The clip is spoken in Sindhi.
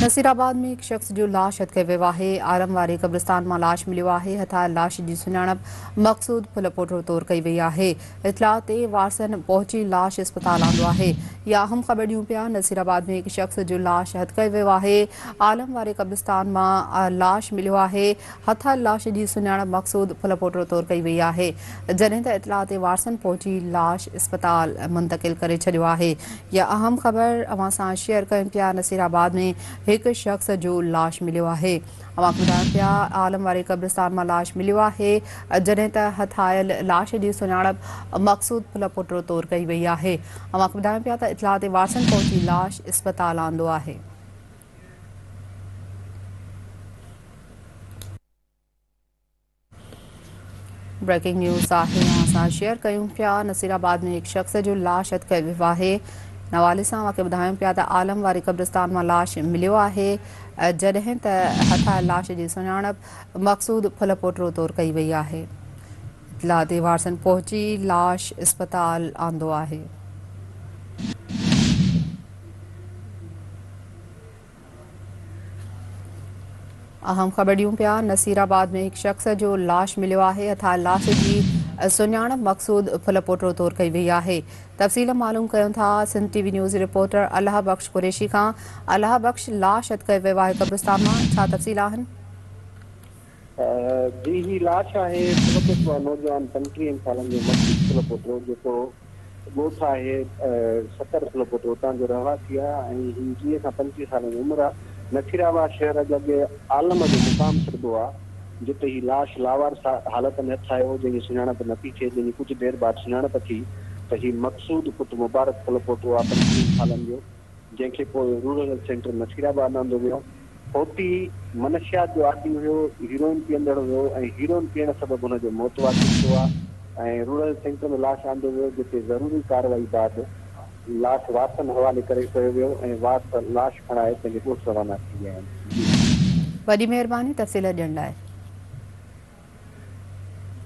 نصير آباد ۾ هڪ شخص جو لاش هٿ ڪئي ويو آهي، آرم واري قبرستان مان لاش مليو آهي، هٿايل لاش جي سڃاڻپ مقصود ڦلپوٽڙو طور ڪئي وئي آهي، اطلاع تي وارثن پهچي لاش اسپتال آندو آهي يا اهم خبر ڏيون پيا، نصير آباد ۾ هڪ شخص جو لاش هٿ ڪئي ويو آهي، آرم واري قبرستان مان لاش مليو آهي. هٿايل لاش جي سڃاڻپ مقصود ڦل پوٽڙو طور ڪئي وئي آهي، جڏهن ته اطلاع تي وارثن پهچي لاش اسپتال منتقل ڪري ڇڏيو آهي. يا اهم خبر اوهان سان شيئر ڪيون پيا نصير آباد ۾ هڪ شخص جو لاش مليو آهي. اوهان کي ٻڌايون پيا عالم واري قبرستان مان لاش مليو آهي، جڏهن ته هٿايل لاش جي سڃاڻپ مقصود ڦل پوٽڙو طور ڪئي وئي آهي. اوهان کي ٻڌايون پيا ته اطلاع تي وارثن پهچي لاش اسپتال آندو آهي. بريڪنگ نيوز آهي اوهان سان شيئر ڪيون پيا نصير آباد ۾ هڪ شخص جو لاش اٽڪل ويو آهي نوالي سان اوهان کي ٻڌايون پيا ته عالم واري قبرستان مان لاش مليو آهي جڏهن ته هٿايل لاش جي سڃاڻپ مقصود ڦل پوٽرو طور ڪئي وئي آهي اطلاع تي وارثن پهچي لاش اسپتال آندو آهي. اهم خبر ڏيون پيا نصير آباد ۾ هڪ شخص جو لاش مليو آهي اٿا لاش جي سڃاڻپ مقصود ڦل پوٽرو طور ڪئي وئي آهي تفصيل معلوم ڪيون ٿا Sindh T V news reporter Allah Bux Qureshi کان الله بخش لاش اٿ ڪيو ويو آهي قبرستان مان ڇا تفصيل آهن جي هي لاش آهي سلپوٽ مان نوجوان پنجٽيهن سالن جو مقصود سلپوٽو جيڪو ڳوٺ آهي سکر سلپوٽو اتان جو رهواسي آهي ۽ هي ويهه کان پنجٽيهه سالن جي عمر آهي نصيرآباد شهر اڄ اڳي عالم جو مقام سڏبو آهي جتي هي لاش لاوارث حالت ۾ هٿ آيو هو جنهن جي سڃاڻپ نه ٿي ٿئي جنهن جي ڪجهه دير بعد سڃاڻپ ٿي ته هي مقصود پٽ مبارڪ سلپوٽو آهي پنجٽيهن سالن جو جنهن کي پوء رورل سينٽر نصيرآباد آندو ويو. هوتي منشيات جو عادي هيو، هيروئن پيئندڙ هيو ۽ هيروئن پيئڻ سبب هن جو موت واقع ٿيو آهي ۽ رورل سينٽر ۾ لاش آندو ويو جتي ضروري ڪارروائي بعد لاش وارثن حوالي ڪري ڪيو ويو ۽ وارث لاش کڻائي پنهنجي ڳوٺ روانا ٿي ويا آهن. وڏي مهرباني تفصيل ڏيڻ لاء.